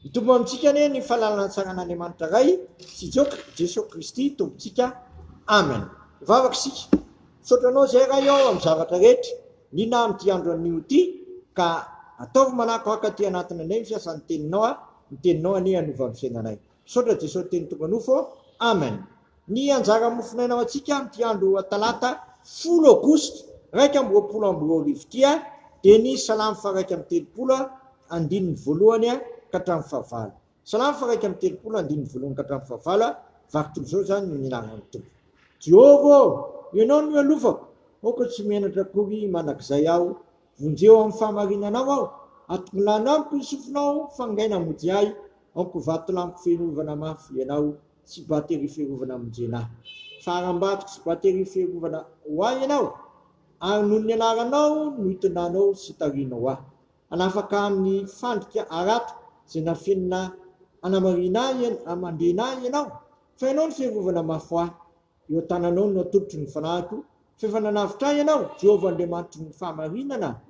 Hitombo amintsika anie ny fahalalana antsangan'Andriamanitra Ray sy Jesoa Kristy Tompontsika. Amen. Vavaka isika. Misaotra anao izay Ray ao amin'ny zavatra rehetra. Nina amin'ity andro anio ity ka ataovy manakohaka aty anatinay ny fiasan'ny teninao. Ny teninao anie hanova ny fiainanay. Misaotra Jesosy teny tonga nofo Amen. Ny anjara mofonaina ho antsika amin'ity andro talata folo aogositra iraika amby roapolo amby roa arivo ity dia ny salamo faharaika amby telopolo andininy voalohany ka hatramin'ny fahavalo. Salamo faharaika amby telopolo andininy voalohany ka hatramin'ny fahavalo, vaky toy izao izany no nilaharan'ny Tompo. Jehovah ô, ianao no ialofako, aoka tsy menatra akory mandrakizay aho, Vonjeo amin'ny fahamarinanao aho, atokinano amiko ny sofinao, fangaina hamonjy ahy, aoko vatolampy fiarovana mafy ianao, sy bateria fiarovana hamonjena ahy. Fa harambatiko sy bateria fiarovana ho ahy ianao, ary noho ny anaranao no itondranao sy itarihanao ahy. Hanafaka ahy amin'ny fandrika harato izay nafenina hanamarina ahy, handrena ahy ianao, fa ianao no fiarovana mafy ho ahy. Eo an-tananao no atolotro ny fanahiko, f'efa nanavotra ahy ianao, Jehovah Andriamanitry ny fahamarinana.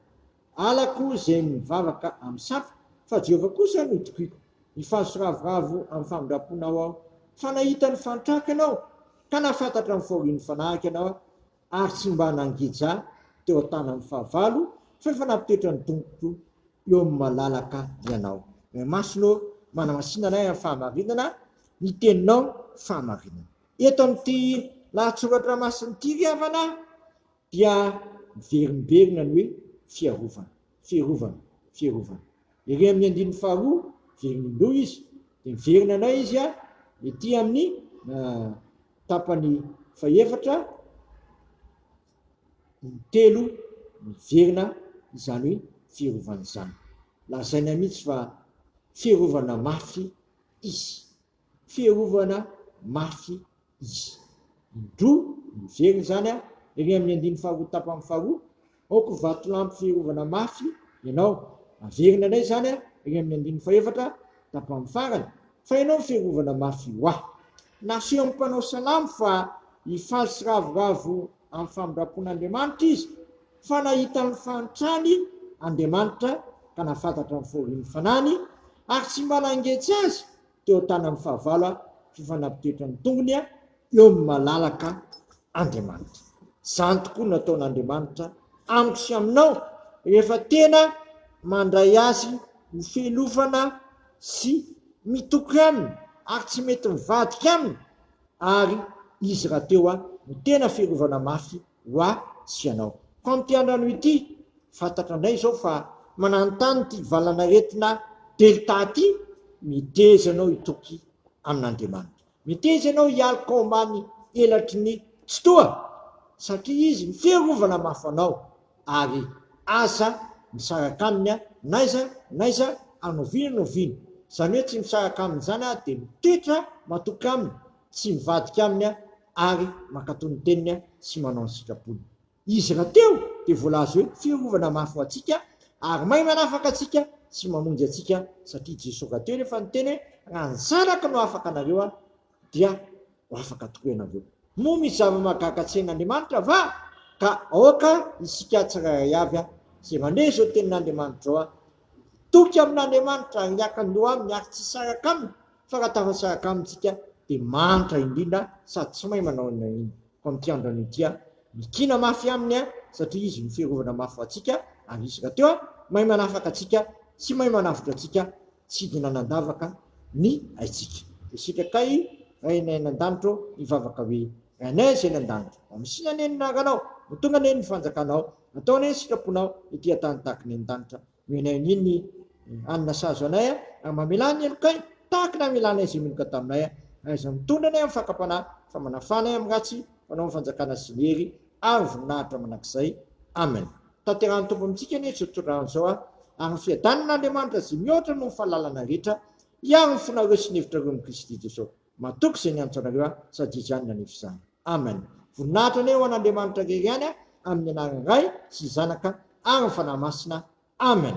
Halako izay mivavaka amin'ny sampy, fa Jehovah kosa no tokiko. Nifanso ravoravo amin'ny famindram-ponao aho, fa nahita ny fanitrako ianao, ka nahafantatra ny fahorian'ny fanahiko ianao aho, ary tsy mba nangeja teo an-tanan'ny fahavalo, f'efa nampitre ny tongotro eo amin'ny malalaka ianao. Ray Masina ô, manamasina anay amin'ny fahamarinana, ny teninao fahamarinana. Eto amin'ity lahatsoratra masin'ity ry havana dia miverimberina ny hoe fiarovana, fierovana, fierovana. Ery amin'ny andininy faharoa, very indroa izy, dia miverina indray izy ety amin'ny tapany fahefatra, intelo miverina izany hoe fierovana izany. Lazaina mihitsy fa fierovana mafy izy. fiarovana mafy izy. Indro miverina izany ery amin'ny andininy faharoa tapany faharoa, Aoka ho vatolampy fiarovana mafy ianao. Averina indray izany ery amin'ny andininy fahefatra tapany farany, Fa ianao no fiarovana mafy ho ahy. Nasehon'ny mpanao salamo fa hifaly sy ravoravo amin'ny famindram-pon'Andriamanitra izy Fa nahita ny fahantrany Andriamanitra ka nahafantatra ny fahorian'ny Fanahiny, ary tsy mba nangeja Azy teo an-tanan'ny fahavalo fifanampidiritry ny tongony eo amin'ny malalaka Andriamanitra. Izany tokoa no nataon'Andriamanitra amiko sy aminao rehefa tena mandray Azy ho fialofana sy mitoky Aminy ary tsy mety mivadika Aminy, ary izy rahateo aho no tena fiarovana mafy ho ahy sy ianao. Fa amin'ity andro anio ity, fantatra indray izao fa mananontany ity valan'aretina Delta ity, miteza ianao hitoky amin'Andriamanitra. Miteza ianao hialoka ao ambany elatry ny Tsitoha, satria Izy ny fiarovana mafy anao, ary aza misaraka aminy n'aiza n'aiza anoviana noviana, izany hoe tsy misaraka aminy izany aho dia mitoetra matoky aminy, tsy mivadika aminy ary mankatò ny teniny sy manao ny sitrapony. Izy rahateo dia voalaza hoe fiarovana mafy ho antsika ary mahay manafaka antsika sy mamonjy antsika satria Jesoa rahateo nefa niteny hoe raha ny zanako no afaka anareo, dia ho afaka tokoa ianareo. Moa misy zava-mahagaga tsy hain'Andriamanitra va? Ka aoka isika tsirairay avy izay mandre izao tenin'Andriamanitra izao hitoky amin'Andriamanitra ary hiaka ny loha aminy ary tsy hisaraka aminy, fa raha tafa-tsaraka aminy isika dia manitra indrindra sady tsy mahay manao inona na inona. Fa amin'ity andro anio ity, mikiana mafy aminy satria izy no fiarovana mafy ho antsika, ary izy rahateo mahay manafaka antsika sy mahay manavotra antsika Tsidina nandavaka ny aitsika. Isika kay Rainay any an-danitro mivavaka hoe, Rainay izay any an-danitro, mba misiana anie ny anaranao, ho tonga anie ny fanjakanao, atao anie ny sitraponao ety an-tany tahaka ny any an-danitra. Omenay anie ny hanina sahaza anay ary mamelà ny helokay tahaka ny hamelanay izay meloka taminay. Ahaiza mitondra anay amin'ny fakam-panahy fa manafà anay amin'ny ratsy, fanao ny fanjakana sy ny hery ary ny voninahitra mandrakizay. Amen. Tanterahin'ny Tompo amintsika anie izao tontolo andro izao ary ny fiadanana Andriamanitra izay mihoatra noho ny fahalalana rehetra hiaro ny fonareo sy ny hevitrareo amin'i Kristy Jesosy. Matoky izay niantso anareo aho sady izany no hanefa izany. Amen. Voninahitra anie ho an'Andriamanitra irery ihany amin'ny anaran'ny Ray sy ny Zanaka ary ny Fanahy Masina. Amen.